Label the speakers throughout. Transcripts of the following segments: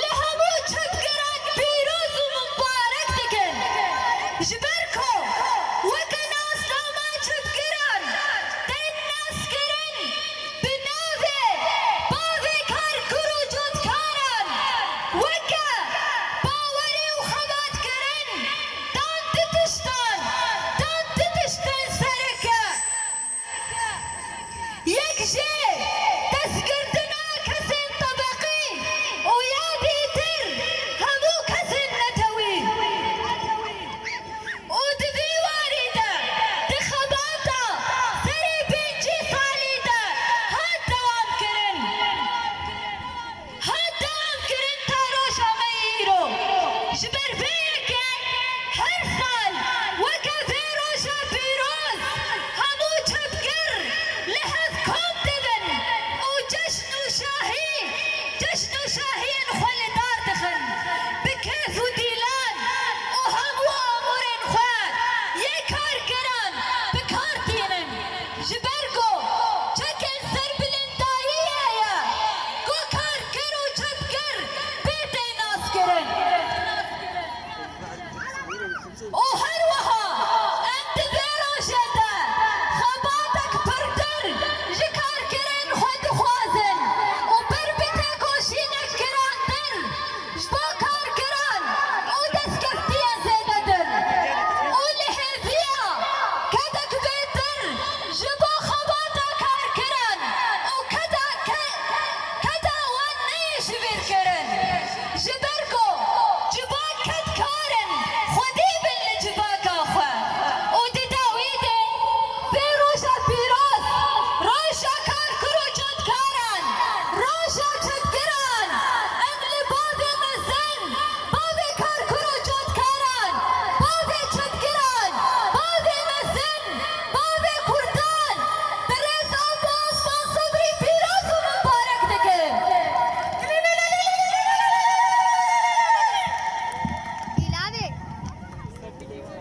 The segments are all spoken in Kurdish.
Speaker 1: Li hemû çepgeran pîroz û mubarek dikin ji ber ku weke nasnama çepgeran tên naskirin bi navê bavê kar kur û cotkaran weke bawerê û xebatkirin dan di piştan dan di pişt pensereke Yek jê destgirtina kesên tebeqî û ya dîtir hemû kesên netewî û di vî warî de di xebata serê pêncî salî de hat dewamkirin. Hat dankirin ta roja me yê îro. Ji ber vê yekê her sal weke vê roja pîroz hemû çepgir li hev kom dibin û ceşn û şahî ceşn û şahiyên xwe li dar dixin. Bi kêf û dîlan û hemû amûrên xwe yê karkeran bi kar tînin. Ji ber ku çekê serbilindayî heye ku karker û çepger pê tê naskirin û her wiha em di vê rojê de xebatek pirtir ji karkerên xwe dixwazin û ber bi têkoşînek girandin Ji bo karkeran û destkeftiyên zêde din û li hêviya kedek bêtir ji bo xebata karkeran û keda keda wan neyê ji bîr kirin. Ji ber ku civak kedkarin xwedî bin li civaka xwe û di dawî de bê roja pîroz, roja karker û Caran, roja çetgiran, em li bavê mezin, bavê karkuro cotkaran, bavê çetgiran, bavê mezin, bavê kurdan, Birêz Apo Osman Sobrî pîroz û mibarek dikim.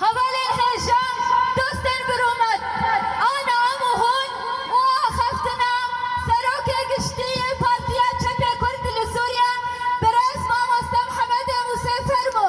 Speaker 1: Hevalên hêjan, dostên bi rûmet, ana em û hûn û axaftina Serokê Giştî yê Partiya Çepê Kurd li Sûriye Birêz Mamoste Mihemedê Mûsê Fermo.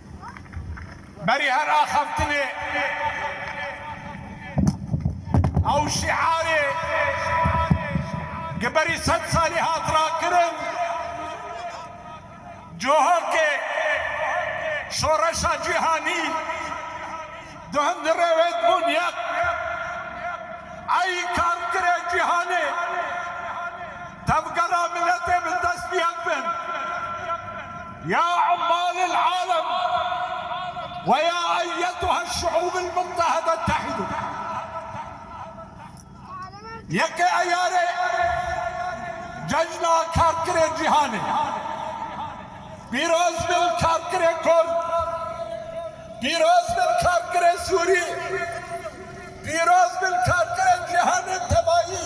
Speaker 1: Berî her axaftinê ew şîarê ki berî sed salî hat rakirin, cohokê şoreşa cîhanî di hundirê wê dibûn yek. Ey karkirê cîhanê tevgera miletê bi dest yek bin. Ya ummal el alem ve ya eyyetuhel şuub el muttehede tehîdu Yekê Eyarê Cejna Karkerê Cîhanê Pîroz bin Karkerê Kurd Pîroz bin Karkerê Sûrî Pîroz bin Karkerê Cîhanê Tebayî.